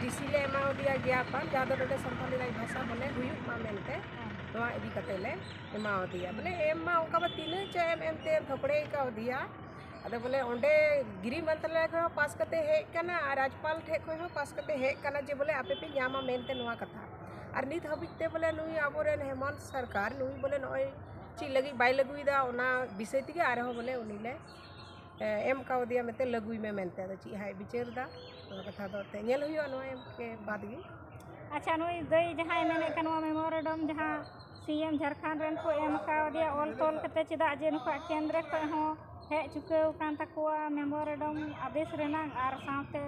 DC ᱞᱮ ᱮᱢᱟᱣᱟᱫᱮᱭᱟ ᱜᱮᱭᱟᱯᱟᱱ ᱡᱟᱦᱟᱸ ᱫᱚ ᱱᱚᱰᱮ ᱥᱟᱱᱛᱟᱞᱤ ᱨᱟᱡᱽ ᱵᱷᱟᱥᱟ ᱵᱚᱞᱮ ᱦᱩᱭᱩᱜ ᱢᱟ ᱢᱮᱱᱛᱮ ᱱᱚᱣᱟ ᱤᱫᱤ ᱠᱟᱛᱮ ᱞᱮ ᱮᱢᱟᱣᱟᱫᱮᱭᱟ ᱵᱚᱞᱮ ᱮᱢ ᱢᱟ ᱚᱱᱠᱟ ᱢᱟ ᱛᱤᱱᱟᱹᱜ ᱪᱚ ᱮᱢ ᱮᱢᱛᱮ ᱛᱷᱚᱠᱲᱮᱭ ᱠᱟᱣᱫᱮᱭᱟ ᱟᱫᱚ ᱵᱚᱞᱮ ᱚᱸᱰᱮ ᱜᱤᱨᱤ ᱢᱚᱱᱛᱨᱟᱞᱚᱭ ᱠᱷᱚᱱ ᱦᱚᱸ ᱯᱟᱥ ᱠᱟᱛᱮ ᱦᱮᱡ ᱠᱟᱱᱟ ᱟᱨ ᱨᱟᱡᱽᱯᱟᱞ ᱴᱷᱮᱡ ᱠᱷᱚᱱ ᱦᱚᱸ ᱯᱟᱥ ᱠᱟᱛᱮ ᱦᱮᱡ ᱠᱟᱱᱟ ᱡᱮ ᱵᱚᱞᱮ ᱟᱯᱮ ᱯᱮ ᱧᱟᱢᱟ ᱢᱮᱱᱛᱮ ᱱᱚᱣᱟ ᱠᱟᱛᱷᱟ ᱟᱨ ᱱᱤᱛ ᱦᱟᱹᱵᱤᱡ ᱛᱮ ᱵᱚᱞᱮ ᱱᱩᱭ ᱟᱵᱚᱨᱮᱱ ᱦᱮᱢᱚᱱᱛ ᱥᱚᱨᱠᱟᱨ ᱱᱩᱭ ᱵᱚᱞᱮ ᱱᱚᱜᱼᱚᱭ ᱪᱮᱫ ᱞᱟᱹᱜᱤᱫ ᱵᱟᱭ ᱞᱟᱹᱜᱩᱭᱮᱫᱟ ᱚᱱᱟ ᱵᱤᱥᱚᱭ ᱛᱮᱜᱮ ᱟᱨᱦᱚᱸ ᱵᱚᱞᱮ ᱩᱱᱤ ᱞᱮ ᱮᱢ ᱠᱟᱣᱫᱮᱭᱟ ᱢᱮᱱᱛᱮ ᱞᱟᱹᱜᱩᱭ ᱢᱮ ᱢᱮᱱᱛᱮ ᱟᱫᱚ ᱪᱮᱫ ᱦᱟᱸᱜ ᱮ ᱵᱤᱪᱟᱹᱨᱫᱟ ᱚᱱᱟ ᱠᱟᱛᱷᱟ ᱫᱚ ᱮᱱᱛᱮᱫ ᱧᱮᱞ ᱦᱩᱭᱩᱜᱼᱟ ᱱᱚᱣᱟ ᱮᱢ ᱠᱮ ᱵᱟᱫᱽ ᱜᱮ ᱟᱪᱪᱷᱟ ᱱᱩᱭ ᱫᱟᱹᱭ ᱡᱟᱦᱟᱸᱭ ᱢᱮᱱᱮᱫ ᱠᱟᱱ ᱱᱚᱣᱟ ᱢᱮᱢᱳᱨᱮᱰᱚᱢ ᱡᱟᱦᱟᱸ ᱥᱤ ᱮᱢ ᱡᱷᱟᱲᱠᱷᱚᱸᱰ ᱨᱮᱱ ᱠᱚ ᱮᱢ ᱠᱟᱣᱫᱮᱭᱟ ᱚᱞ ᱛᱚᱞ ᱠᱟᱛᱮᱫ ᱪᱮᱫᱟᱜ ᱡᱮ ᱱᱩᱠᱩᱣᱟᱜ ᱠᱮᱱᱫᱨᱚ ᱠᱷᱚᱱ ᱦᱚᱸ ᱦᱮᱡ ᱪᱩᱠᱟᱹᱣ ᱟᱠᱟᱱ ᱛᱟᱠᱚᱣᱟ ᱢᱮᱢᱳᱨᱮᱰᱚᱢ ᱟᱫᱮᱥ ᱨᱮᱱᱟᱜ ᱟᱨ ᱥᱟᱶᱛᱮ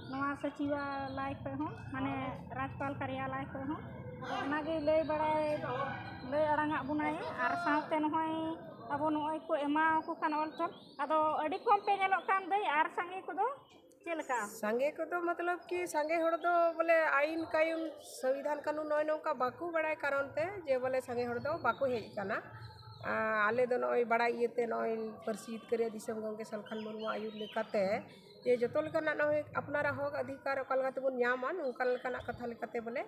ᱱᱚᱣᱟ ᱥᱚᱪᱤᱵᱟᱞᱟᱭ ᱠᱷᱚᱱ ᱦᱚᱸ ᱢᱟᱱᱮ ᱨᱟᱡᱽᱯᱟᱞ ᱠᱟᱨᱭᱟᱞᱟᱭ ᱠᱷᱚᱱ ᱦᱚᱸ ᱟᱫᱚ ᱚᱱᱟᱜᱮ ᱞᱟᱹᱭ ᱵᱟᱲᱟᱭ ᱞᱟᱹᱭ ᱟᱲᱟᱝᱟᱜ ᱵᱚᱱᱟᱭ ᱟᱨ ᱥᱟᱶᱛᱮ ᱱᱚᱜᱼᱚᱸᱭ ᱟᱵᱚ ᱱᱚᱜᱼᱚᱭ ᱠᱚ ᱮᱢᱟᱣᱟᱠᱚ ᱠᱟᱱ ᱚᱞ ᱛᱚᱞ ᱟᱫᱚ ᱟᱹᱰᱤ ᱠᱚᱢ ᱯᱮ ᱧᱮᱞᱚᱜ ᱠᱟᱱ ᱫᱟᱹᱭ ᱟᱨ ᱥᱟᱸᱜᱮ ᱠᱚᱫᱚ ᱪᱮᱫ ᱞᱮᱠᱟ ᱥᱟᱸᱜᱮ ᱠᱚᱫᱚ ᱢᱚᱛᱞᱚᱵ ᱠᱤ ᱥᱟᱸᱜᱮ ᱦᱚᱲ ᱫᱚ ᱵᱚᱞᱮ ᱟᱭᱤᱱ ᱠᱟᱭᱩᱱ ᱥᱚᱝᱵᱤᱫᱷᱟᱱ ᱠᱟᱹᱱᱩᱱ ᱱᱚᱜᱼᱚᱭ ᱱᱚᱝᱠᱟ ᱵᱟᱠᱚ ᱵᱟᱲᱟᱭ ᱠᱟᱨᱚᱱ ᱛᱮ ᱡᱮ ᱵᱚᱞᱮ ᱥᱟᱸᱜᱮ ᱦᱚᱲ ᱫᱚ ᱵᱟᱠᱚ ᱦᱮᱡ ᱠᱟᱱᱟ ᱟᱞᱮ ᱫᱚ ᱱᱚᱜᱼᱚᱭ ᱵᱟᱲᱟᱭ ᱤᱭᱟᱹᱛᱮ ᱱᱚᱜᱼᱚᱭ ᱯᱟᱹᱨᱥᱤ ᱡᱤᱛᱠᱟᱹᱨᱤᱭᱟᱹ ᱫᱤᱥᱚᱢ ᱜᱚᱢᱠᱮ ᱥᱟᱞᱠᱷᱟᱱ ᱢᱩᱨᱢᱩ ᱟᱹᱭᱩᱨ ᱞᱮᱠᱟᱛᱮ ᱡᱮ ᱡᱚᱛᱚ ᱞᱮᱠᱟᱱᱟᱜ ᱱᱚᱜᱼᱚᱭ ᱟᱯᱱᱟᱨᱟᱜ ᱦᱚᱸᱠ ᱚᱫᱷᱤᱠᱟᱨ ᱚᱠᱟ ᱞᱮᱠᱟ ᱛᱮᱵᱚᱱ ᱧᱟᱢᱟ ᱱᱚᱝᱠᱟ ᱞᱮᱠᱟᱱᱟᱜ ᱠᱟᱛᱷᱟ ᱞᱮᱠᱟᱛᱮ ᱵᱚᱞᱮ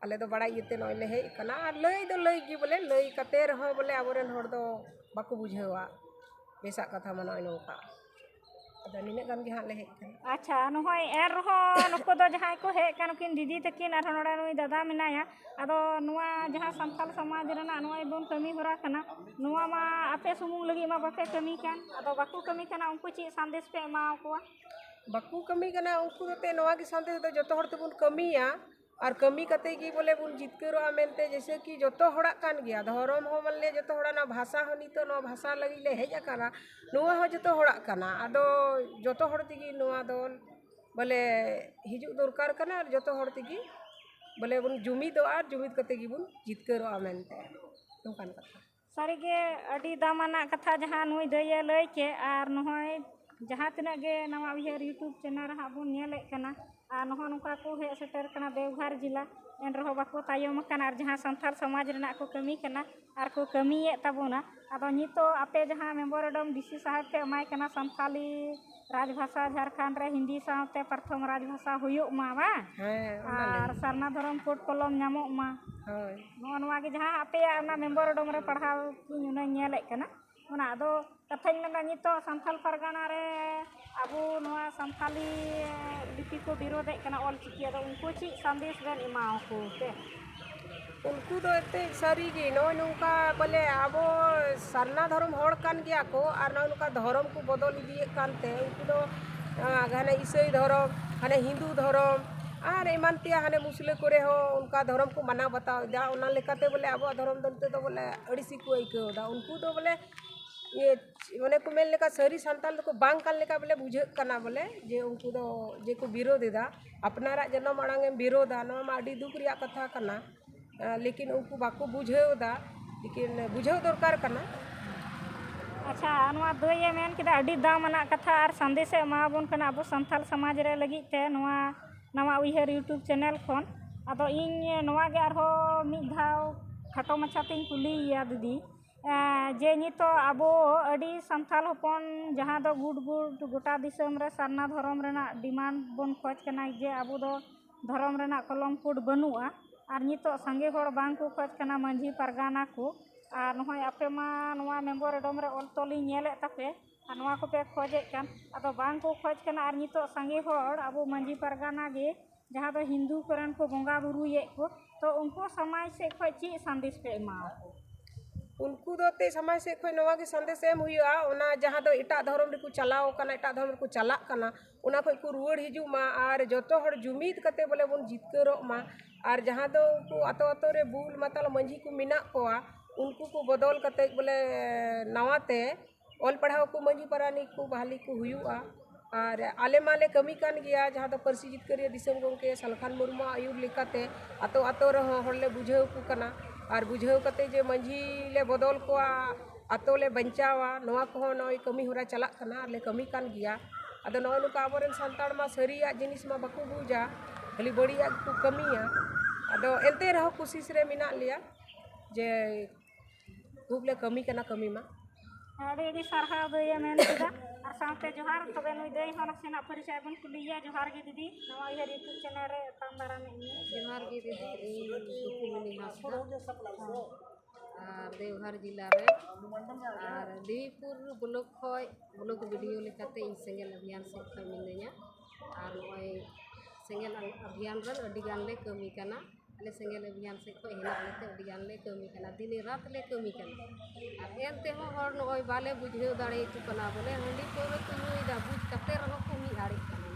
ᱟᱞᱮ ᱫᱚ ᱵᱟᱲᱟᱭ ᱤᱭᱟᱹᱛᱮ ᱱᱚᱜᱼᱚᱭ ᱞᱮ ᱦᱮᱡ ᱟᱠᱟᱱᱟ ᱟᱨ ᱞᱟᱹᱭ ᱫᱚ ᱞᱟᱹᱭ ᱜᱮ ᱵᱚᱞᱮ ᱞᱟᱹᱭ ᱠᱟᱛᱮ ᱨᱮᱦᱚᱸ ᱵᱚᱞᱮ ᱟᱵᱚ ᱨᱮᱱ ᱦᱚᱲ ᱫᱚ ᱵᱟᱠᱚ ᱵᱩᱡᱷᱟᱹᱣᱟ ᱵᱮᱥᱟᱜ ᱠᱟᱛᱷᱟ ᱢᱟ ᱱᱚᱜᱼᱚᱭ ᱱᱚᱝᱠᱟ ᱟᱫᱚ ᱱᱤᱱᱟᱹᱜ ᱜᱟᱱ ᱜᱮ ᱦᱟᱸᱜ ᱞᱮ ᱦᱮᱡ ᱟᱠᱟᱱᱟ ᱟᱪᱪᱷᱟ ᱱᱚᱜᱼᱚᱭ ᱮᱱ ᱨᱮᱦᱚᱸ ᱱᱩᱠᱩ ᱫᱚ ᱡᱟᱦᱟᱸᱭ ᱠᱚ ᱦᱮᱡ ᱟᱠᱟᱱ ᱱᱩᱠᱤᱱ ᱫᱤᱫᱤ ᱛᱟᱹᱠᱤᱱ ᱟᱨᱦᱚᱸ ᱱᱚᱰᱮ ᱱᱩᱭ ᱫᱟᱫᱟ ᱢᱮᱱᱟᱭᱟ ᱟᱫᱚ ᱱᱚᱣᱟ ᱡᱟᱦᱟᱸ ᱥᱟᱱᱛᱟᱲ ᱥᱚᱢᱟᱡᱽ ᱨᱮᱱᱟᱜ ᱱᱚᱜᱼᱚᱭ ᱵᱚᱱ ᱠᱟᱹᱢᱤ ᱦᱚᱨᱟ ᱠᱟᱱᱟ ᱱᱚᱣᱟ ᱢᱟ ᱟᱯᱮ ᱥᱩᱢᱩᱝ ᱞᱟᱹᱜᱤᱫ ᱢᱟ ᱵᱟᱯᱮ ᱠᱟᱹᱢᱤ ᱠᱟᱱ ᱟᱫᱚ ᱵᱟᱠᱚ ᱠᱟᱹᱢᱤ ᱠᱟᱱᱟ ᱩᱱᱠᱩ ᱪᱮᱫ ᱥᱟᱸᱫᱮᱥ ᱯᱮ ᱮᱢᱟ ᱟᱠᱚᱣᱟ ᱵᱟᱠᱚ ᱠᱟᱹᱢᱤ ᱠᱟᱱᱟ ᱩᱱᱠᱩ ᱦᱚᱛᱮᱫ ᱱᱚᱣᱟ ᱜᱮ ᱥᱟᱸᱫᱮᱥ ᱫᱚ ᱡᱚᱛᱚ ᱦᱚᱲ ᱛᱮᱵᱚᱱ ᱠᱟᱹᱢᱤᱭᱟ ᱟᱨ ᱠᱟᱹᱢᱤ ᱠᱟᱛᱮ ᱜᱮ ᱵᱚᱞᱮ ᱵᱚᱱ ᱡᱤᱛᱠᱟᱹᱨᱚᱜᱼᱟ ᱢᱮᱱᱛᱮ ᱡᱮᱭᱥᱮ ᱠᱤ ᱡᱚᱛᱚ ᱦᱚᱲᱟᱜ ᱠᱟᱱ ᱜᱮᱭᱟ ᱫᱷᱚᱨᱚᱢ ᱦᱚᱸ ᱢᱟᱱᱮ ᱡᱚᱛᱚ ᱦᱚᱲᱟᱜ ᱱᱚᱣᱟ ᱵᱷᱟᱥᱟ ᱦᱚᱸ ᱱᱤᱛᱚᱜ ᱱᱚᱣᱟ ᱵᱷᱟᱥᱟ ᱞᱟᱹᱜᱤᱫ ᱞᱮ ᱦᱮᱡ ᱟᱠᱟᱱᱟ ᱱᱚᱣᱟ ᱦᱚᱸ ᱡᱚᱛᱚ ᱦᱚᱲᱟᱜ ᱠᱟᱱᱟ ᱟᱫᱚ ᱡᱚᱛᱚ ᱦᱚᱲ ᱛᱮᱜᱮ ᱱᱚᱣᱟ ᱫᱚ ᱵᱚᱞᱮ ᱦᱤᱡᱩᱜ ᱫᱚᱨᱠᱟᱨ ᱠᱟᱱᱟ ᱟᱨ ᱡᱚᱛᱚ ᱦᱚᱲ ᱛᱮᱜᱮ ᱵᱚᱞᱮ ᱵᱚᱱ ᱡᱩᱢᱤᱫᱚᱜᱼᱟ ᱡᱩᱢᱤᱫ ᱠᱟᱛᱮ ᱜᱮᱵᱚᱱ ᱡᱤᱛᱠᱟᱹᱨᱚᱜᱼᱟ ᱢᱮᱱᱛᱮ ᱱᱚᱝᱠᱟᱱ ᱠᱟᱛᱷᱟ ᱥᱟᱹᱨᱤᱜᱮ ᱟᱹᱰᱤ ᱫᱟᱢᱟᱱᱟᱜ ᱠᱟᱛᱷᱟ ᱡᱟᱦᱟᱸ ᱱᱩᱭ ᱫᱟᱹᱭᱮ ᱞᱟᱹᱭ ᱠᱮᱫ ᱟᱨ ᱱᱚᱜᱼᱚᱭ ᱡᱟᱦᱟᱸ ᱛᱤᱱᱟᱹᱜ ᱜᱮ ᱱᱟᱣᱟ ᱩᱭᱦᱟᱹᱨ ᱤᱭᱩᱴᱩᱵᱽ ᱪᱮᱱᱮᱞ ᱨᱮ ᱦᱟᱸᱜ ᱵᱚᱱ ᱧᱮᱞᱮᱫ ᱠᱟᱱᱟ ᱟᱨ ᱱᱚᱜᱼᱚ ᱱᱚᱝᱠᱟ ᱠᱚ ᱦᱮᱡ ᱥᱮᱴᱮᱨ ᱠᱟᱱᱟ ᱫᱮᱣᱜᱷᱚᱨ ᱡᱮᱞᱟ ᱮᱱ ᱨᱮᱦᱚᱸ ᱵᱟᱠᱚ ᱛᱟᱭᱚᱢ ᱟᱠᱟᱱᱟ ᱟᱨ ᱡᱟᱦᱟᱸ ᱥᱟᱱᱛᱟᱲ ᱥᱚᱢᱟᱡᱽ ᱨᱮᱱᱟᱜ ᱠᱚ ᱠᱟᱹᱢᱤ ᱠᱟᱱᱟ ᱟᱨ ᱠᱚ ᱠᱟᱹᱢᱤᱭᱮᱫ ᱛᱟᱵᱚᱱᱟ ᱟᱫᱚ ᱱᱤᱛᱚᱜ ᱟᱯᱮ ᱡᱟᱦᱟᱸ ᱢᱮᱢᱵᱚᱨ ᱚᱰᱚᱢ ᱰᱤ ᱥᱤ ᱥᱟᱦᱮᱵᱽ ᱯᱮ ᱮᱢᱟᱭ ᱠᱟᱱᱟ ᱥᱟᱱᱛᱟᱲᱤ ᱨᱟᱡᱽ ᱵᱷᱟᱥᱟ ᱡᱷᱟᱲᱠᱷᱚᱸᱰ ᱨᱮ ᱦᱤᱱᱫᱤ ᱥᱟᱶᱛᱮ ᱯᱨᱚᱛᱷᱚᱢ ᱨᱟᱡᱽ ᱵᱷᱟᱥᱟ ᱦᱩᱭᱩᱜ ᱢᱟ ᱵᱟᱝ ᱦᱮᱸ ᱚᱱᱟ ᱟᱨ ᱞᱟᱹᱜᱤᱫ ᱥᱟᱨᱱᱟ ᱫᱷᱚᱨᱚᱢ ᱠᱳᱰ ᱠᱚᱞᱚᱢ ᱧᱟᱢᱚᱜ ᱢᱟ ᱦᱳᱭ ᱱᱚᱜᱼᱚ ᱱᱚᱣᱟ ᱜᱮ ᱡᱟᱦᱟᱸ ᱟᱯᱮᱭᱟᱜ ᱚᱱᱟ ᱢᱮᱢᱳᱨᱮᱱᱰᱚᱢ ᱨᱮ ᱯᱟᱲᱦᱟᱣ ᱤᱧ ᱚᱱᱟᱧ ᱧᱮᱞᱮᱫ ᱠᱟᱱᱟ ᱚᱱᱟ ᱟᱫᱚ ᱠᱟᱛᱷᱟᱧ ᱢᱮᱱᱫᱟ ᱱᱤᱛᱚᱜ ᱥᱟᱱᱛᱟᱲ ᱯᱟᱨᱜᱟᱱᱟ ᱨᱮ ᱟᱵᱚ ᱱᱚᱣᱟ ᱥᱟᱱᱛᱟᱲᱤ ᱞᱤᱯᱤ ᱠᱚ ᱵᱤᱨᱳᱫᱮᱫ ᱠᱟᱱᱟ ᱚᱞᱪᱤᱠᱤ ᱟᱫᱚ ᱩᱱᱠᱩ ᱪᱮᱫ ᱥᱟᱸᱫᱮᱥ ᱵᱮᱱ ᱮᱢᱟᱣᱟᱠᱚ ᱛᱮ ᱩᱱᱠᱩ ᱫᱚ ᱮᱱᱛᱮᱫ ᱥᱟᱹᱨᱤᱜᱮ ᱱᱚᱜᱼᱚᱭ ᱱᱚᱝᱠᱟ ᱵᱚᱞᱮ ᱟᱵᱚ ᱥᱟᱨᱱᱟ ᱫᱷᱚᱨᱚᱢ ᱦᱚᱲ ᱠᱟᱱ ᱜᱮᱭᱟ ᱠᱚ ᱟᱨ ᱱᱚᱜᱼᱚᱭ ᱱᱚᱝᱠᱟ ᱫᱷᱚᱨᱚᱢ ᱠᱚ ᱵᱚᱫᱚᱞ ᱤᱫᱤᱭᱮᱫ ᱠᱟᱱᱛᱮ ᱩᱱᱠᱩ ᱫᱚ ᱦᱟᱱᱮ ᱤᱥᱟᱹᱭ ᱫᱷᱚᱨᱚᱢ ᱦᱟᱱᱮ ᱦᱤᱱᱫᱩ ᱫᱷᱚᱨᱚᱢ ᱟᱨ ᱮᱢᱟᱱ ᱛᱮᱭᱟᱜ ᱦᱟᱱᱮ ᱢᱩᱥᱞᱟᱹ ᱠᱚᱨᱮ ᱦᱚᱸ ᱚᱱᱠᱟ ᱫᱷᱚᱨᱚᱢ ᱠᱚ ᱢᱟᱱᱟᱣ ᱵᱟᱛᱟᱣᱮᱫᱟ ᱚᱱᱟ ᱞᱮᱠᱟᱛᱮ ᱵᱚᱞᱮ ᱟᱵᱚᱣᱟᱜ ᱫᱷᱚᱨᱚᱢ ᱫᱚ ᱱᱤᱛᱚᱜ ᱫᱚ ᱵᱚᱞᱮ ᱟᱹᱲᱤᱥ ᱜᱮᱠᱚ ᱟᱹᱭᱠᱟᱹᱣᱫᱟ ᱩᱱᱠᱩ ᱫᱚ ᱵᱚᱞᱮ ᱤᱭᱟᱹ ᱚᱱᱮ ᱠᱚ ᱢᱮᱱ ᱞᱮᱠᱟ ᱥᱟᱹᱨᱤ ᱥᱟᱱᱛᱟᱲ ᱫᱚᱠᱚ ᱵᱟᱝ ᱠᱟᱱ ᱞᱮᱠᱟ ᱵᱚᱞᱮ ᱵᱩᱡᱷᱟᱹᱜ ᱠᱟᱱᱟ ᱵᱚᱞᱮ ᱡᱮ ᱩᱱᱠᱩ ᱫᱚ ᱡᱮ ᱠᱚ ᱵᱤᱨᱳᱫᱷ ᱮᱫᱟ ᱟᱯᱱᱟᱨᱟᱜ ᱡᱟᱱᱟᱢ ᱟᱲᱟᱝ ᱮᱢ ᱵᱤᱨᱳᱫᱷᱟ ᱱᱚᱣᱟ ᱢᱟ ᱟᱹᱰᱤ ᱫᱩᱠ ᱨᱮᱭᱟᱜ ᱠᱟᱛᱷᱟ ᱠᱟᱱᱟ ᱞᱮᱠᱤᱱ ᱩᱱᱠᱩ ᱵᱟᱠᱚ ᱵᱩᱡᱷᱟᱹᱣ ᱮᱫᱟ ᱞᱮᱠᱤᱱ ᱵᱩᱡᱷᱟᱹᱣ ᱫᱚᱨᱠᱟᱨ ᱠᱟᱱᱟ ᱟᱪᱪᱷᱟ ᱱᱚᱣᱟ ᱫᱟᱹᱭᱮ ᱢᱮᱱ ᱠᱮᱫᱟ ᱟᱹᱰᱤ ᱫᱟᱢ ᱟᱱᱟᱜ ᱠᱟᱛᱷᱟ ᱟᱨ ᱥᱟᱸᱫᱮᱥᱮ ᱮᱢᱟᱵᱚᱱ ᱠᱟᱱᱟ ᱟᱵᱚ ᱥᱟᱱᱛᱟᱲ ᱥᱚᱢᱟᱡᱽ ᱨᱮ ᱞᱟᱹᱜᱤᱫ ᱛᱮ ᱱᱚᱣᱟ ᱱᱟᱣᱟ ᱩᱭᱦᱟᱹᱨ ᱤᱭᱩᱴᱩᱵᱽ ᱪᱮᱱᱮᱞ ᱠᱷᱚᱱ ᱟᱫᱚ ᱤᱧ ᱱᱚᱣᱟ ᱜᱮ ᱟᱨᱦᱚᱸ ᱢᱤᱫ ᱫᱷᱟᱣ ᱠᱷᱟᱴᱚ ᱢᱟᱪᱷᱟ ᱛᱤᱧ ᱠᱩᱞᱤᱭᱮᱭᱟ ᱫᱤᱫᱤ ᱡᱮ ᱱᱤᱛᱳᱜ ᱟᱵᱚ ᱟᱹᱰᱤ ᱥᱟᱱᱛᱟᱲ ᱦᱚᱯᱚᱱ ᱡᱟᱦᱟᱸ ᱫᱚ ᱜᱩᱴ ᱜᱩᱴ ᱜᱚᱴᱟ ᱫᱤᱥᱚᱢ ᱨᱮ ᱥᱟᱨᱱᱟ ᱫᱷᱚᱨᱚᱢ ᱨᱮᱱᱟᱜ ᱰᱤᱢᱟᱱᱰ ᱵᱚᱱ ᱠᱷᱚᱡᱽ ᱠᱟᱱᱟ ᱡᱮ ᱟᱵᱚ ᱫᱚ ᱫᱷᱚᱨᱚᱢ ᱨᱮᱱᱟᱜ ᱠᱚᱞᱚᱢ ᱠᱳᱰ ᱵᱟᱹᱱᱩᱜᱼᱟ ᱟᱨ ᱱᱤᱛᱳᱜ ᱥᱟᱸᱜᱮ ᱦᱚᱲ ᱵᱟᱝ ᱠᱚ ᱠᱷᱚᱡᱽ ᱠᱟᱱᱟ ᱢᱟᱺᱡᱷᱤ ᱯᱟᱨᱜᱟᱱᱟ ᱠᱚ ᱟᱨ ᱱᱚᱜᱼᱚᱭ ᱟᱯᱮ ᱢᱟ ᱱᱚᱣᱟ ᱢᱮᱢᱳᱨᱮᱱᱰᱚᱢ ᱨᱮ ᱚᱞ ᱛᱚᱞᱤᱧ ᱧᱮᱞᱮᱫ ᱛᱟᱯᱮ ᱟᱨ ᱱᱚᱣᱟ ᱠᱚᱯᱮ ᱠᱷᱚᱡᱮᱫ ᱠᱟᱱ ᱟᱫᱚ ᱵᱟᱝ ᱠᱚ ᱠᱷᱚᱡ ᱠᱟᱱᱟ ᱟᱨ ᱱᱤᱛᱳᱜ ᱥᱟᱸᱜᱮ ᱦᱚᱲ ᱟᱵᱚ ᱢᱟᱺᱡᱷᱤ ᱯᱟᱨᱜᱟᱱᱟ ᱜᱮ ᱡᱟᱦᱟᱸ ᱫᱚ ᱦᱤᱱᱫᱩ ᱠᱚᱨᱮᱱ ᱠᱚ ᱵᱚᱸᱜᱟ ᱵᱩᱨᱩᱭᱮᱫ ᱠᱚ ᱛᱚ ᱩᱱᱠᱩ ᱥᱚᱢᱟᱡᱽ ᱥᱮᱫ ᱠᱷᱚᱡ ᱪᱮᱫ ᱥᱟᱸᱫᱮᱥ ᱯᱮ ᱮᱢᱟᱣᱟᱠᱚ ᱩᱱᱠᱩ ᱫᱚ ᱮᱱᱛᱮᱫ ᱥᱚᱢᱟᱡᱽ ᱥᱮᱫ ᱠᱷᱚᱡ ᱱᱚᱣᱟ ᱜᱮ ᱥᱟᱸᱫᱮᱥ ᱮᱢ ᱦᱩᱭᱩᱜᱼᱟ ᱚᱱᱟ ᱡᱟᱦᱟᱸ ᱫᱚ ᱮᱴᱟᱜ ᱫᱷᱚᱨᱚᱢ ᱨᱮᱠᱚ ᱪᱟᱞᱟᱣ ᱠᱟᱱᱟ ᱮᱴᱟᱜ ᱫᱷᱚᱨᱚᱢ ᱨᱮᱠᱚ ᱪᱟᱞᱟᱜ ᱠᱟᱱᱟ ᱚᱱᱟ ᱠᱷᱚᱡ ᱠᱚ ᱨᱩᱣᱟᱹᱲ ᱦᱤᱡᱩᱜ ᱢᱟ ᱟᱨ ᱡᱚᱛᱚ ᱦᱚᱲ ᱡᱩᱢᱤᱫ ᱠᱟᱛᱮ ᱵᱚᱞᱮ ᱵᱚᱱ ᱡᱤᱛᱠᱟᱹᱨᱚᱜ ᱢᱟ ᱟᱨ ᱡᱟᱦᱟᱸ ᱫᱚ ᱩᱱᱠᱩ ᱟᱛᱳ ᱟᱛᱳ ᱨᱮ ᱵᱩᱞ ᱢᱟᱛᱟᱞ ᱢᱟᱺᱡᱷᱤ ᱠᱚ ᱢᱮᱱᱟᱜ ᱠᱚᱣᱟ ᱩᱱᱠᱩ ᱠᱚ ᱵᱚᱫᱚᱞ ᱠᱟᱛᱮ ᱵᱚᱞᱮ ᱱᱟᱣᱟ ᱛᱮ ᱚᱞ ᱯᱟᱲᱦᱟᱣ ᱠᱚ ᱢᱟᱹᱡᱷᱤ ᱯᱟᱨᱟᱱᱤᱠ ᱠᱚ ᱵᱷᱟᱞᱮ ᱠᱚ ᱦᱩᱭᱩᱜᱼᱟ ᱟᱨ ᱟᱞᱮ ᱢᱟᱞᱮ ᱠᱟᱹᱢᱤ ᱠᱟᱱ ᱜᱮᱭᱟ ᱡᱟᱦᱟᱸ ᱫᱚ ᱯᱟᱹᱨᱥᱤ ᱡᱤᱛᱠᱟᱹᱨᱤᱭᱟᱹ ᱫᱤᱥᱚᱢ ᱜᱚᱢᱠᱮ ᱥᱟᱞᱠᱷᱟᱱ ᱢᱩᱨᱢᱩᱣᱟᱜ ᱟᱹᱭᱩᱨ ᱞᱮᱠᱟᱛᱮ ᱟᱛᱳ ᱟᱛᱳ ᱨᱮᱦᱚᱸ ᱦᱚᱲᱞᱮ ᱵᱩᱡᱷᱟᱹᱣ ᱠᱚ ᱠᱟᱱᱟ ᱟᱨ ᱵᱩᱡᱷᱟᱹᱣ ᱠᱟᱛᱮ ᱡᱮ ᱢᱟᱹᱡᱷᱤ ᱞᱮ ᱵᱚᱫᱚᱞ ᱠᱚᱣᱟ ᱟᱛᱳ ᱞᱮ ᱵᱟᱧᱪᱟᱣᱟ ᱱᱚᱣᱟ ᱠᱚᱦᱚᱸ ᱱᱚᱜᱼᱚᱭ ᱠᱟᱹᱢᱤ ᱦᱚᱨᱟ ᱪᱟᱞᱟᱜ ᱠᱟᱱᱟ ᱟᱨ ᱞᱮ ᱠᱟᱹᱢᱤ ᱠᱟᱱ ᱜᱮᱭᱟ ᱟᱫᱚ ᱱᱚᱜᱼᱚᱭ ᱱᱚᱝᱠᱟ ᱟᱵᱚ ᱨᱮᱱ ᱥᱟᱱᱛᱟᱲ ᱢᱟ ᱥᱟᱹᱨᱤᱭᱟᱜ ᱡᱤᱱᱤᱥ ᱢᱟ ᱵᱟᱠᱚ ᱵᱩᱡᱟ ᱠᱷᱟᱹᱞᱤ ᱵᱟᱹᱲᱤᱡᱟᱜ ᱜᱮᱠᱚ ᱠᱟᱹᱢᱤᱭᱟ ᱟᱫᱚ ᱮᱱᱛᱮ ᱨᱮᱦᱚᱸ ᱠᱩᱥᱤᱥ ᱨᱮ ᱢᱮᱱᱟᱜ ᱞᱮᱭᱟ ᱡᱮ ᱠᱷᱩᱵ ᱞᱮ ᱠᱟᱹᱢᱤ ᱠᱟᱱᱟ ᱠᱟᱹᱢᱤ ᱢᱟ ᱟᱹᱰᱤ ᱟᱹᱰᱤ ᱥᱟᱨᱦᱟᱣ ᱫᱟᱹᱭᱮ ᱢᱮᱱ ᱠᱮᱫᱟ ᱟᱨ ᱥᱟᱶᱛᱮ ᱡᱚᱦᱟᱨ ᱛᱚᱵᱮ ᱱᱩᱭ ᱫᱟᱹᱭ ᱦᱚᱸ ᱱᱟᱥᱮᱱᱟᱜ ᱯᱚᱨᱤᱪᱚᱭ ᱵᱚᱱ ᱠᱩᱞᱤᱭᱮᱭᱟ ᱡᱚᱦᱟᱨ ᱜᱮ ᱫᱤᱫᱤ ᱱᱚᱣᱟ ᱩᱭᱦᱟᱹᱨ ᱤᱭᱩᱴᱩᱵᱽ ᱪᱮᱱᱮᱞ ᱨᱮ ᱮᱛᱟᱢ ᱫᱟᱨᱟᱢ ᱮᱫ ᱢᱮᱭᱟ ᱡᱚᱦᱟᱨ ᱜᱮ ᱫᱤᱫᱤ ᱤᱧ ᱥᱩᱠᱩᱢᱚᱱᱤ ᱦᱟᱸᱥᱫᱟ ᱟᱨ ᱫᱮᱣᱜᱷᱚᱨ ᱡᱮᱞᱟ ᱨᱮ ᱟᱨ ᱫᱮᱵᱤᱯᱩᱨ ᱵᱞᱚᱠ ᱠᱷᱚᱡ ᱵᱞᱚᱠ ᱵᱤᱰᱤᱭᱳ ᱞᱮᱠᱟᱛᱮ ᱤᱧ ᱥᱮᱸᱜᱮᱞ ᱚᱵᱷᱤᱭᱟᱱ ᱥᱮᱫ ᱠᱷᱚᱡ ᱢᱤᱱᱟᱹᱧᱟ ᱟᱨ ᱱᱚᱜᱼᱚᱭ ᱥᱮᱸᱜᱮᱞ ᱚᱵᱷᱤᱭᱟᱱ ᱨᱮ ᱟᱹᱰᱤ ᱜᱟᱱ ᱞᱮ ᱠᱟᱹᱢᱤ ᱠᱟᱱᱟ ᱟᱞᱮ ᱥᱮᱸᱜᱮᱞ ᱚᱵᱷᱤᱡᱟᱱ ᱥᱮᱫ ᱠᱷᱚᱱ ᱦᱮᱱᱟᱜ ᱞᱮᱛᱮ ᱟᱹᱰᱤ ᱜᱟᱱ ᱞᱮ ᱠᱟᱹᱢᱤ ᱠᱟᱱᱟ ᱫᱤᱱᱮ ᱨᱟᱛ ᱞᱮ ᱠᱟᱹᱢᱤ ᱠᱟᱱᱟ ᱟᱨ ᱮᱱ ᱛᱮᱦᱚᱸ ᱦᱚᱲ ᱱᱚᱜᱼᱚᱸᱭ ᱵᱟᱞᱮ ᱵᱩᱡᱷᱟᱹᱣ ᱫᱟᱲᱮ ᱟᱠᱚ ᱠᱟᱱᱟ ᱵᱚᱞᱮ ᱦᱟᱺᱰᱤ ᱯᱟᱹᱣᱨᱟᱹ ᱠᱚ ᱧᱩᱭᱮᱫᱟ ᱵᱩᱡᱽ ᱠᱟᱛᱮᱫ ᱨᱮᱦᱚᱸ ᱠᱚ ᱢᱤᱫ ᱟᱲᱮᱜ ᱠᱟᱱᱟ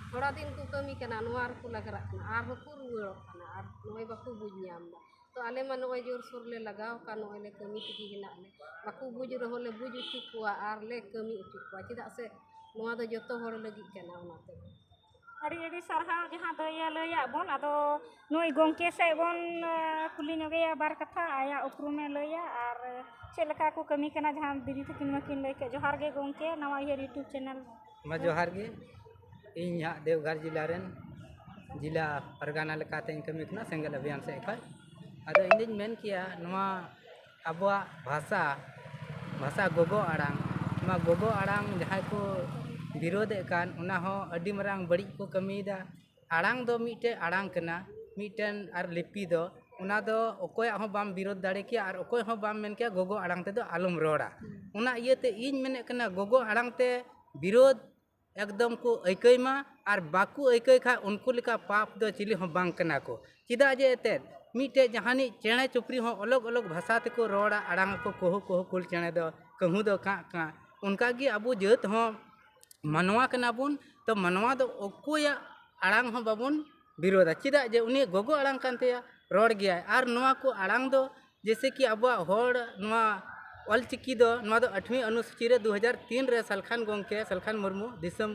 ᱛᱷᱚᱲᱟ ᱫᱤᱱ ᱠᱚ ᱠᱟᱹᱢᱤ ᱠᱟᱱᱟ ᱱᱚᱣᱟ ᱨᱮᱠᱚ ᱞᱟᱜᱽᱨᱟᱜ ᱠᱟᱱᱟ ᱟᱨ ᱦᱚᱸ ᱠᱚ ᱨᱩᱣᱟᱹᱲᱚᱜ ᱠᱟᱱᱟ ᱟᱨ ᱱᱚᱜᱼᱚᱸᱭ ᱵᱟᱠᱚ ᱵᱩᱡᱽ ᱧᱟᱢ ᱮᱫᱟ ᱛᱚ ᱟᱞᱮ ᱢᱟ ᱱᱚᱜᱼᱚᱸᱭ ᱡᱳᱨ ᱥᱳᱨ ᱞᱮ ᱞᱟᱜᱟᱣ ᱟᱠᱟᱱ ᱱᱚᱜᱼᱚᱸᱭ ᱞᱮ ᱠᱟᱹᱢᱤ ᱛᱮᱜᱮ ᱦᱮᱱᱟᱜ ᱞᱮ ᱵᱟᱠᱚ ᱵᱩᱡᱽ ᱨᱮᱦᱚᱸ ᱞᱮ ᱵᱩᱡᱽ ᱦᱚᱪᱚ ᱠᱚᱣᱟ ᱟᱨ ᱞᱮ ᱠᱟᱹᱢᱤ ᱦᱚᱪᱚ ᱠᱚᱣᱟ ᱪᱮᱫᱟᱜ ᱥᱮ ᱱᱚᱣᱟ ᱫᱚ ᱡᱚᱛᱚ ᱦᱚᱲ ᱞᱟᱹᱜᱤᱫ ᱠᱟᱱᱟ ᱚᱱᱟᱛᱮ ᱟᱹᱰᱤ ᱟᱹᱰᱤ ᱥᱟᱨᱦᱟᱣ ᱡᱟᱦᱟᱸ ᱫᱚ ᱤᱭᱟᱹ ᱞᱟᱹᱭᱟᱜ ᱵᱚᱱ ᱟᱫᱚ ᱱᱩᱭ ᱜᱚᱢᱠᱮ ᱥᱮᱫ ᱵᱚᱱ ᱠᱩᱞᱤ ᱧᱚᱜᱮᱭᱟ ᱵᱟᱨ ᱠᱟᱛᱷᱟ ᱟᱭᱟᱜ ᱩᱯᱨᱩᱢᱮ ᱞᱟᱹᱭᱟ ᱟᱨ ᱪᱮᱫ ᱞᱮᱠᱟ ᱠᱚ ᱠᱟᱹᱢᱤ ᱠᱟᱱᱟ ᱡᱟᱦᱟᱸ ᱫᱤᱫᱤ ᱛᱟᱹᱠᱤᱱ ᱢᱟᱹᱠᱤᱱ ᱞᱟᱹᱭ ᱠᱮᱫ ᱡᱚᱦᱟᱨ ᱜᱮ ᱜᱚᱢᱠᱮ ᱱᱟᱣᱟ ᱤᱭᱟᱹ ᱤᱭᱩᱴᱩᱵᱽ ᱪᱮᱱᱮᱞ ᱢᱟ ᱡᱚᱦᱟᱨ ᱜᱮ ᱤᱧ ᱦᱟᱸᱜ ᱫᱮᱣᱜᱷᱚᱨ ᱡᱮᱞᱟ ᱨᱮᱱ ᱡᱮᱞᱟ ᱯᱟᱨᱜᱟᱱᱟ ᱞᱮᱠᱟᱛᱤᱧ ᱠᱟᱹᱢᱤ ᱠᱟᱱᱟ ᱥᱮᱸᱜᱮᱞ ᱚᱵᱷᱤᱡᱟᱱ ᱥᱮᱫ ᱠᱷᱚᱱ ᱟᱫᱚ ᱤᱧᱫᱩᱧ ᱢᱮᱱ ᱠᱮᱭᱟ ᱱᱚᱣᱟ ᱟᱵᱚᱣᱟᱜ ᱵᱷᱟᱥᱟ ᱵᱷᱟᱥᱟ ᱜᱚᱜᱚ ᱟᱲᱟᱝ ᱱᱚᱣᱟ ᱜᱚᱜᱚ ᱟᱲᱟᱝ ᱡᱟᱦᱟᱸᱭ ᱠᱚ ᱵᱤᱨᱳᱫᱮᱜ ᱠᱟᱱ ᱚᱱᱟ ᱦᱚᱸ ᱟᱹᱰᱤ ᱢᱟᱨᱟᱝ ᱵᱟᱹᱲᱤᱡ ᱠᱚ ᱠᱟᱹᱢᱤᱭᱮᱫᱟ ᱟᱲᱟᱝ ᱫᱚ ᱢᱤᱫᱴᱮᱱ ᱟᱲᱟᱝ ᱠᱟᱱᱟ ᱢᱤᱫᱴᱮᱱ ᱟᱨ ᱞᱤᱯᱤ ᱫᱚ ᱚᱱᱟ ᱫᱚ ᱚᱠᱚᱭᱟᱜ ᱦᱚᱸ ᱵᱟᱢ ᱵᱤᱨᱳᱫ ᱫᱟᱲᱮ ᱠᱮᱭᱟ ᱟᱨ ᱚᱠᱚᱭ ᱦᱚᱸ ᱵᱟᱢ ᱢᱮᱱ ᱠᱮᱭᱟ ᱜᱚᱜᱚ ᱟᱲᱟᱝ ᱛᱮᱫᱚ ᱟᱞᱚᱢ ᱨᱚᱲᱟ ᱚᱱᱟ ᱤᱭᱟᱹᱛᱮ ᱤᱧ ᱢᱮᱱᱮᱫ ᱠᱟᱱᱟ ᱜᱚᱜᱚ ᱟᱲᱟᱝ ᱛᱮ ᱵᱤᱨᱳᱫ ᱮᱠᱫᱚᱢ ᱠᱚ ᱟᱹᱭᱠᱟᱹᱣ ᱢᱟ ᱟᱨ ᱵᱟᱠᱚ ᱟᱹᱭᱠᱟᱹᱣ ᱠᱷᱟᱱ ᱩᱱᱠᱩ ᱞᱮᱠᱟ ᱯᱟᱯ ᱫᱚ ᱪᱤᱞᱤ ᱦᱚᱸ ᱵᱟᱝ ᱠᱟᱱᱟ ᱠᱚ ᱪᱮᱫᱟᱜ ᱡᱮ ᱮᱱᱛᱮᱫ ᱢᱤᱫᱴᱮᱱ ᱡᱟᱦᱟᱱᱤᱡ ᱪᱮᱬᱮ ᱪᱩᱯᱨᱤ ᱦᱚᱸ ᱚᱞᱚᱜᱽ ᱚᱞᱚᱜᱽ ᱵᱷᱟᱥᱟ ᱛᱮᱠᱚ ᱨᱚᱲᱟ ᱟᱲᱟᱝ ᱟᱠᱚ ᱠᱩᱦᱩ ᱠᱩᱦᱩ ᱠᱩᱞ ᱪᱮᱬᱮ ᱫᱚ ᱠᱟᱹᱦᱩ ᱫᱚ ᱠᱟᱜ ᱠᱟᱜ ᱚᱱᱠᱟ ᱜᱮ ᱟᱵᱚ ᱡᱟᱹᱛ ᱦᱚᱸ ᱢᱟᱱᱣᱟ ᱠᱟᱱᱟ ᱵᱚᱱ ᱛᱚ ᱢᱟᱱᱣᱟ ᱫᱚ ᱚᱠᱚᱭᱟᱜ ᱟᱲᱟᱝ ᱦᱚᱸ ᱵᱟᱵᱚᱱ ᱵᱤᱨᱳᱫᱟ ᱪᱮᱫᱟᱜ ᱡᱮ ᱩᱱᱤᱭᱟᱜ ᱜᱚᱜᱚ ᱟᱲᱟᱝ ᱠᱟᱱ ᱛᱟᱭᱟ ᱨᱚᱲ ᱜᱮᱭᱟᱭ ᱟᱨ ᱱᱚᱣᱟ ᱠᱚ ᱟᱲᱟᱝ ᱫᱚ ᱡᱮᱭᱥᱮ ᱠᱤ ᱟᱵᱚᱣᱟᱜ ᱦᱚᱲ ᱱᱚᱣᱟ ᱚᱞ ᱪᱤᱠᱤ ᱫᱚ ᱱᱚᱣᱟ ᱫᱚ ᱟᱴᱷᱢᱤ ᱚᱱᱩᱥᱩᱪᱤ ᱨᱮ ᱫᱩ ᱦᱟᱡᱟᱨ ᱛᱤᱱ ᱨᱮ ᱥᱟᱞᱠᱷᱟᱱ ᱜᱚᱢᱠᱮ ᱥᱟᱞᱠᱷᱟᱱ ᱢᱩᱨᱢᱩ ᱫᱤᱥᱚᱢ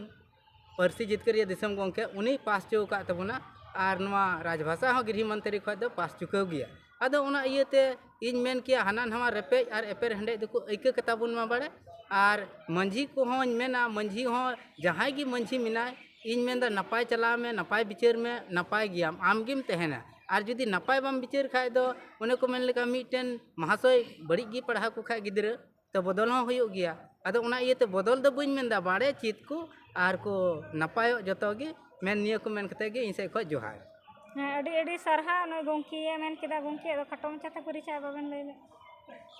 ᱯᱟᱹᱨᱥᱤ ᱡᱤᱛᱠᱟᱹᱨᱤᱭᱟᱹ ᱫᱤᱥᱚᱢ ᱜᱚᱢᱠᱮ ᱩᱱᱤᱭ ᱯᱟᱥ ᱦᱚᱪᱚ ᱟᱠᱟᱫ ᱛᱟᱵᱚᱱᱟ ᱟᱨ ᱱᱚᱣᱟ ᱨᱟᱡᱽ ᱵᱷᱟᱥᱟ ᱦᱚᱸ ᱜᱨᱤᱦᱚ ᱢᱚᱱᱛᱨᱤ ᱠᱷᱚᱱ ᱫᱚ ᱯᱟᱥ ᱪᱩᱠᱟᱹᱣ ᱜᱮᱭᱟ ᱟᱫᱚ ᱚᱱᱟ ᱤᱭᱟᱹᱛᱮ ᱤᱧ ᱢᱮᱱ ᱠᱮᱭᱟ ᱦᱟᱱᱟ ᱱᱟᱣᱟ ᱨᱮᱯᱮᱡ ᱟᱨ ᱮᱯᱮᱨ ᱦᱮᱰᱮᱡ ᱫᱚᱠᱚ ᱟᱹᱭᱠᱟᱹ ᱠᱟᱛᱟ ᱵᱚᱱ ᱢᱟ ᱵᱟᱲᱮ ᱟᱨ ᱢᱟᱺᱡᱷᱤ ᱠᱚᱦᱚᱧ ᱢᱮᱱᱟ ᱢᱟᱺᱡᱷᱤ ᱦᱚᱸ ᱡᱟᱦᱟᱸᱭ ᱜᱮ ᱢᱟᱺᱡᱷᱤ ᱢᱮᱱᱟᱭ ᱤᱧ ᱢᱮᱱᱫᱟ ᱱᱟᱯᱟᱭ ᱪᱟᱞᱟᱣ ᱢᱮ ᱱᱟᱯᱟᱭ ᱵᱤᱪᱟᱹᱨ ᱢᱮ ᱱᱟᱯᱟᱭ ᱜᱮᱭᱟᱢ ᱟᱢ ᱜᱮᱢ ᱛᱟᱦᱮᱱᱟ ᱟᱨ ᱡᱩᱫᱤ ᱱᱟᱯᱟᱭ ᱵᱟᱢ ᱵᱤᱪᱟᱹᱨ ᱠᱷᱟᱡ ᱫᱚ ᱚᱱᱮ ᱠᱚ ᱢᱮᱱ ᱞᱮᱠᱟ ᱢᱤᱫᱴᱮᱱ ᱢᱟᱦᱟᱥᱚᱭ ᱵᱟᱹᱲᱤᱡ ᱜᱮ ᱯᱟᱲᱦᱟᱣ ᱠᱚ ᱠᱷᱟᱡ ᱜᱤᱫᱽᱨᱟᱹ ᱛᱚ ᱵᱚᱫᱚᱞ ᱦᱚᱸ ᱦᱩᱭᱩᱜ ᱜᱮᱭᱟ ᱟᱫᱚ ᱚᱱᱟ ᱤᱭᱟᱹᱛᱮ ᱵᱚᱫᱚᱞ ᱫᱚ ᱵᱟᱹᱧ ᱢᱮᱱᱫᱟ ᱵᱟᱲᱮ ᱪᱮᱫ ᱠᱚ ᱟᱨ ᱠᱚ ᱱᱟᱯᱟᱭᱚᱜ ᱡᱚᱛᱚ ᱜᱮ ᱢᱮᱱ ᱱᱤᱭᱟᱹ ᱠᱚ ᱢᱮᱱ ᱠᱟᱛᱮ ᱜᱮ ᱤᱧ ᱥᱮᱡ ᱠᱷᱚᱡ ᱡᱚᱦᱟᱨ ᱦᱮᱸ ᱟᱹᱰᱤ ᱟᱹᱰᱤ ᱥᱟᱨᱦᱟᱣ ᱱᱩᱭ ᱜᱚᱢᱠᱮᱭᱮ ᱢᱮᱱ ᱠᱮᱫᱟ ᱜᱚᱢᱠᱮ ᱟᱫᱚ ᱠᱷᱟᱴᱚ ᱢᱟᱪᱷᱟᱛᱮ ᱯᱚᱨᱤᱪᱚᱭ ᱵᱟᱵᱮᱱ ᱞᱟᱹᱭ ᱞᱮᱫ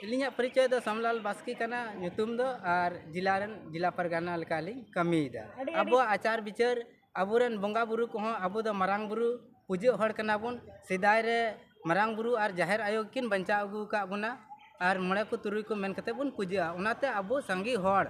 ᱤᱞᱤᱧᱟᱜ ᱯᱚᱨᱤᱪᱚᱭ ᱫᱚ ᱥᱟᱢᱞᱟᱞ ᱵᱟᱥᱠᱮ ᱠᱟᱱᱟ ᱧᱩᱛᱩᱢ ᱫᱚ ᱟᱨ ᱡᱮᱞᱟ ᱨᱮᱱ ᱡᱮᱞᱟ ᱯᱟᱨᱜᱟᱱᱟ ᱞᱮᱠᱟᱞᱤᱧ ᱠᱟᱹᱢᱤᱭᱮᱫᱟ ᱟᱵᱚᱣᱟᱜ ᱟᱪᱟᱨ ᱵᱤᱪᱟᱹᱨ ᱟᱵᱚ ᱨᱮᱱ ᱵᱚᱸᱜᱟ ᱵᱩᱨᱩ ᱠᱚᱦᱚᱸ ᱟᱵᱚ ᱫᱚ ᱢᱟᱨᱟᱝ ᱵᱩᱨᱩ ᱯᱩᱡᱟᱹᱜ ᱦᱚᱲ ᱠᱟᱱᱟ ᱵᱚᱱ ᱥᱮᱫᱟᱭ ᱨᱮ ᱢᱟᱨᱟᱝ ᱵᱩᱨᱩ ᱟᱨ ᱡᱟᱦᱮᱨ ᱟᱭᱳ ᱜᱮᱠᱤᱱ ᱵᱟᱧᱪᱟᱣ ᱟᱹᱜᱩ ᱟᱠᱟᱫ ᱵᱚᱱᱟ ᱟᱨ ᱢᱚᱬᱮ ᱠᱚ ᱛᱩᱨᱩᱭ ᱠᱚ ᱢᱮᱱ ᱠᱟᱛᱮᱫ ᱵᱚᱱ ᱯᱩᱡᱟᱹᱜᱼᱟ ᱚᱱᱟᱛᱮ ᱟᱵᱚ ᱥᱟᱸᱜᱮ ᱦᱚᱲ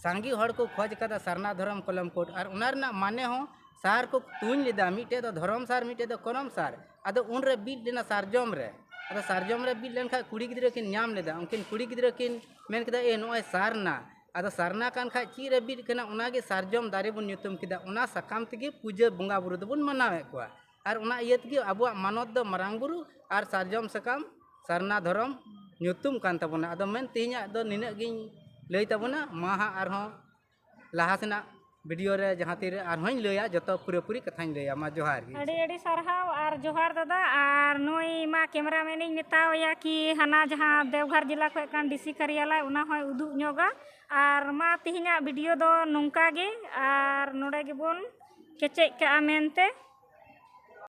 ᱥᱟᱸᱜᱮ ᱦᱚᱲ ᱠᱚ ᱠᱷᱚᱡᱽ ᱟᱠᱟᱫᱟ ᱥᱟᱨᱱᱟ ᱫᱷᱚᱨᱚᱢ ᱠᱚᱞᱚᱢ ᱠᱳᱰ ᱟᱨ ᱚᱱᱟ ᱨᱮᱱᱟᱜ ᱢᱟᱱᱮ ᱦᱚᱸ ᱥᱟᱨ ᱠᱚ ᱛᱩᱧ ᱞᱮᱫᱟ ᱢᱤᱫᱴᱮᱡ ᱫᱚ ᱫᱷᱚᱨᱚᱢ ᱥᱟᱨ ᱢᱤᱫᱴᱮᱡ ᱫᱚ ᱠᱚᱞᱚᱢ ᱥᱟᱨ ᱟᱫᱚ ᱩᱱᱨᱮ ᱵᱤᱫ ᱞᱮᱱᱟ ᱥᱟᱨᱡᱚᱢ ᱨᱮ ᱟᱫᱚ ᱥᱟᱨᱡᱚᱢ ᱨᱮ ᱵᱤᱫ ᱞᱮᱱᱠᱷᱟᱱ ᱠᱩᱲᱤ ᱜᱤᱫᱽᱨᱟᱹ ᱠᱤᱱ ᱧᱟᱢ ᱞᱮᱫᱟ ᱩᱱᱠᱤᱱ ᱠᱩᱲᱤ ᱜᱤᱫᱽᱨᱟᱹ ᱠᱤᱱ ᱢᱮᱱ ᱠᱮᱫᱟ ᱮ ᱱᱚᱜᱼᱚᱭ ᱥᱟᱨᱱᱟ ᱟᱫᱚ ᱥᱟᱨᱱᱟ ᱠᱟᱱ ᱠᱷᱟᱡ ᱪᱮᱫ ᱨᱮ ᱵᱤᱫ ᱠᱟᱱᱟ ᱚᱱᱟ ᱜᱮ ᱥᱟᱨᱡᱚᱢ ᱫᱟᱨᱮ ᱵᱚᱱ ᱧᱩᱛᱩᱢ ᱠᱮᱫᱟ ᱚᱱᱟ ᱥᱟᱠᱟᱢ ᱛᱮᱜᱮ ᱯᱩᱡᱟᱹ ᱵᱚᱸᱜᱟ ᱵᱳᱨᱳ ᱫᱚᱵᱚᱱ ᱢᱟᱱᱟᱣᱮᱫ ᱠᱚᱣᱟ ᱟᱨ ᱚᱱᱟ ᱤᱭᱟᱹ ᱛᱮᱜᱮ ᱟᱵᱚᱣᱟᱜ ᱢᱟᱱᱚᱛ ᱫᱚ ᱢᱟᱨᱟᱝ ᱵᱳᱨᱳ ᱟᱨ ᱥᱟᱨᱡᱚᱢ ᱥᱟᱠᱟᱢ ᱥᱟᱨᱱᱟ ᱫᱷᱚᱨᱚᱢ ᱧᱩᱛᱩᱢ ᱠᱟᱱ ᱛᱟᱵᱚᱱᱟ ᱟᱫᱚ ᱢᱮᱱ ᱛᱮᱦᱮᱧᱟᱜ ᱫᱚ ᱱᱤᱱᱟᱹᱜ ᱜᱤᱧ ᱞᱟᱹᱭ ᱛᱟᱵᱚᱱᱟ ᱢᱟ ᱦᱟᱸᱜ ᱟᱨᱦᱚᱸ ᱞᱟᱦᱟ ᱥᱮᱱᱟᱜ ᱵᱷᱤᱰᱤᱭᱳ ᱨᱮ ᱡᱟᱦᱟᱸ ᱛᱤᱨᱮ ᱟᱨᱦᱚᱸᱧ ᱞᱟᱹᱭᱟ ᱡᱚᱛᱚ ᱯᱩᱨᱟᱹᱯᱩᱨᱤ ᱠᱟᱛᱷᱟᱧ ᱞᱟᱹᱭᱟ ᱢᱟ ᱡᱚᱦᱟᱨ ᱜᱮ ᱟᱹᱰᱤ ᱟᱹᱰᱤ ᱥᱟᱨᱦᱟᱣ ᱟᱨ ᱡᱚᱦᱟᱨ ᱫᱟᱫᱟ ᱟᱨ ᱱᱩᱭ ᱢᱟ ᱠᱮᱢᱮᱨᱟ ᱢᱮᱱ ᱤᱧ ᱢᱮᱛᱟᱣᱟᱭᱟ ᱠᱤ ᱦᱟᱱᱟ ᱡᱟᱦᱟᱸ ᱫᱮᱣᱜᱷᱚᱨ ᱡᱮᱞᱟ ᱠᱷᱚᱱ ᱠᱟᱱ ᱰᱤ ᱥᱤ ᱠᱟᱨᱭᱟᱞᱚᱭ ᱚᱱᱟ ᱦᱚᱸᱭ ᱩᱫᱩᱜ ᱧᱚᱜᱟ ᱟᱨ ᱢᱟ ᱛᱮᱦᱮᱧᱟᱜ ᱵᱷᱤᱰᱤᱭᱳ ᱫᱚ ᱱᱚᱝᱠᱟ ᱜᱮ ᱟᱨ ᱱᱚᱰᱮ ᱜᱮᱵᱚᱱ ᱠᱮᱪᱮᱫ ᱠᱟᱜᱼᱟ ᱢᱮᱱᱛᱮ